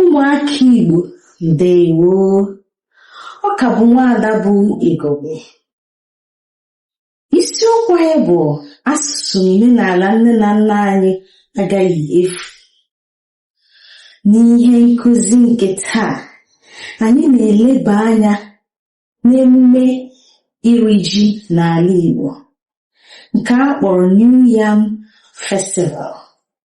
ụmụaka Igbo ndewo ọ ka bụ nwaada bụ Igogbe isiokwu anyị bụ asụsụ na omenala nne na nna anyị agaghị efu n'ihe nkụzi nke taa anyị na-eleba anya n'emume iri ji n'ala Igbo nke a kpọrọ New Yam Festival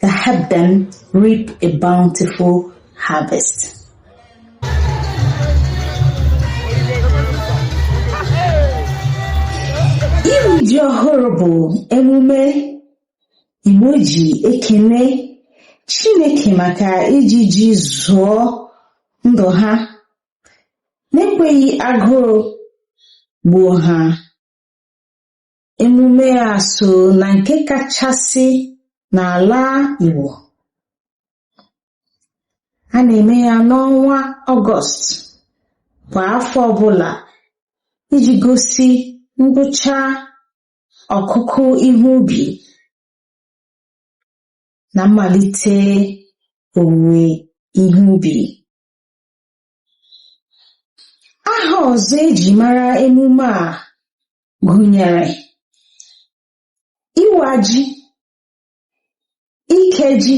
to help them reap a bountiful harvest. Iri ji ọhụrụ bụ emume Igbo ji ekele Chineke maka iji ji zụọ ndụ ha n'ekweghị agụụ gbuo ha. Emume a so na nke kachasị n'ala Igbo. A na-eme ya n'ọnwa Ọgọst kwa afọ ọbụla iji gosi ngwụcha ọkụkụ ihe ubi na mmalite owuwe ihe ubi. aha ọzọ e ji mara emume a gụnyere ịwa ji ike ji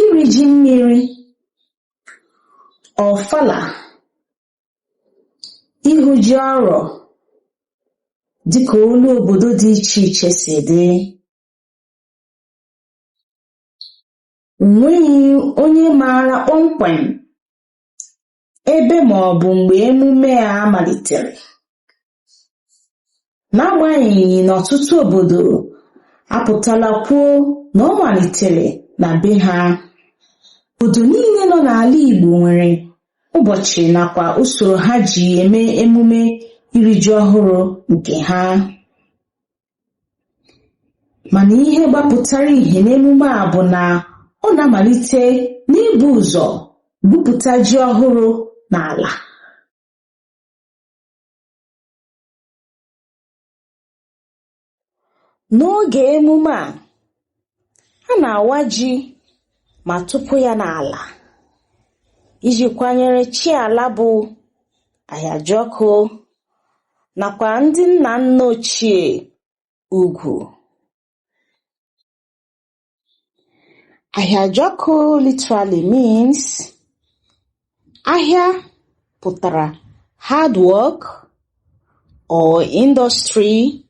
iri ji mmiri ọfala ihu ji ọrọ dịka olu obodo dị iche iche si dị O nweghị onye maara kpọmkwem ebe ma ọ bụ mgbe emume a malitere. N'agbanyeghị na ọtụtụ obodo apụtala kwuo na ọ malitere na be ha, obodo niile nọ n'ala Igbo nwere ụbọchị nakwa usoro ha ji eme emume iri ji ọhụrụ nke ha. mana ihe gbapụtara ihe n'emume a bụ na ọ na-amalite n'ibu ụzọ gwupụta ji ọhụrụ n'ala n'oge emume a ha na-awa ji ma tụpụ ya n'ala iji kwanyere chi ala bụ Ahịajọkụ nakwa ndị nna nna ochie ugwu. Ahịajọkụ literally means Ahịa pụtara hard work or industry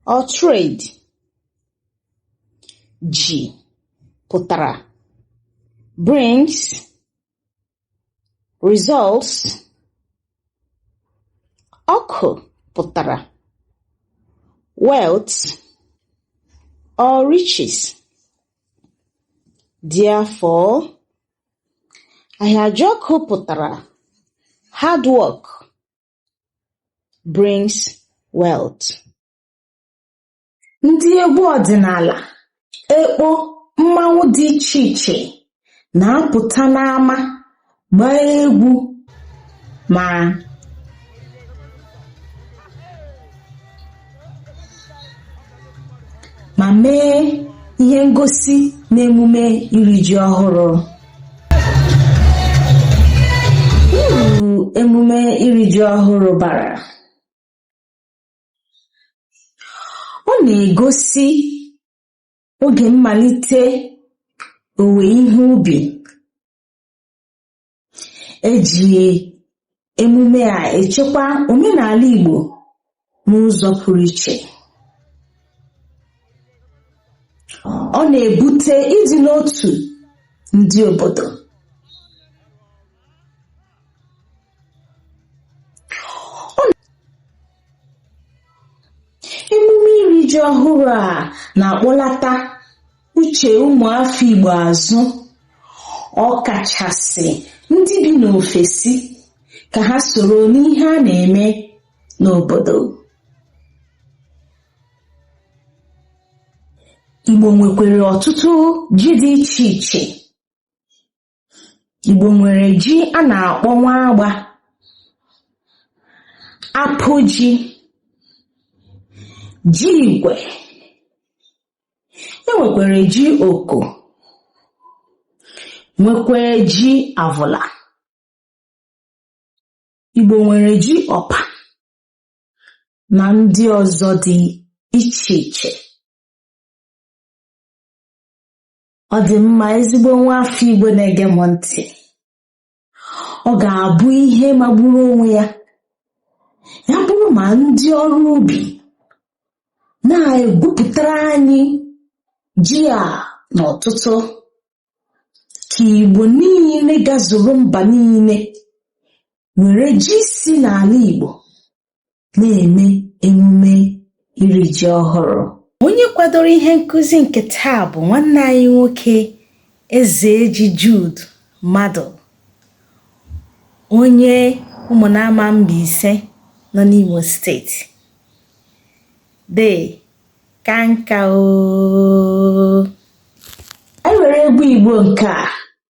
or trade. Ji pụtara brings results. Ọkụ pụtara wealth or riches. Therefore Ahịajọkụ pụtara Hard work brings wealth. Ndị egwu ọdịnala, ekpo, mmanwụ dị iche iche na-apụta n'ama gbaa egwu ma ma mee ihe ngosi n'emume iri ji ọhụrụ uru emume iri ji ọhụrụ bara ọ na-egosi oge mmalite owuwe ihe ubi e ji emume a echekwa omenala Igbo n'ụzọ pụrụ iche ọ na-ebute ịdị n'otu ndị obodo emume iri ji ọhụrụ a na-akpọlata uche ụmụ afọ Igbo azụ ọkachasị ndị bi n'ofesi ka ha soro n'ihe a na-eme n'obodo Igbo nwekwere ọtụtụ ji dị iche iche Igbo nwere ji a na-akpọ nwa agba, apụ ji, ji igwe, e nwekwere ji oko, nwekwee ji avụla. Igbo nwere ji ọpa na ndị ọzọ dị iche iche. Ọ dị mma ezigbo nwa afọ Igbo na-ege m ntị. Ọ ga-abụ ihe magburu onwe ya ya bụrụ ma ndị ọrụ ubi na-egwupụtara anyị ji a n'ọtụtụ ka Igbo niile gazuru mba niile were ji si n'ala Igbo na-eme emume iri ji ọhụrụ. Onye kwadoro ihe nkuzi nke taa bụ nwanne anyị nwoke Ezeji Jude Madụ, onye Ụmụnama Mbaise nọ n'Imo steeti. Dee, ka nka oo. E nwere egwu Igbo nke a.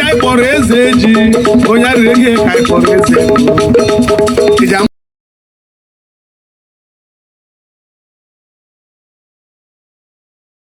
ka anyị kpọrọ Ezeji onye arịrị ihe ka anyị kpọrọ Ezeji ama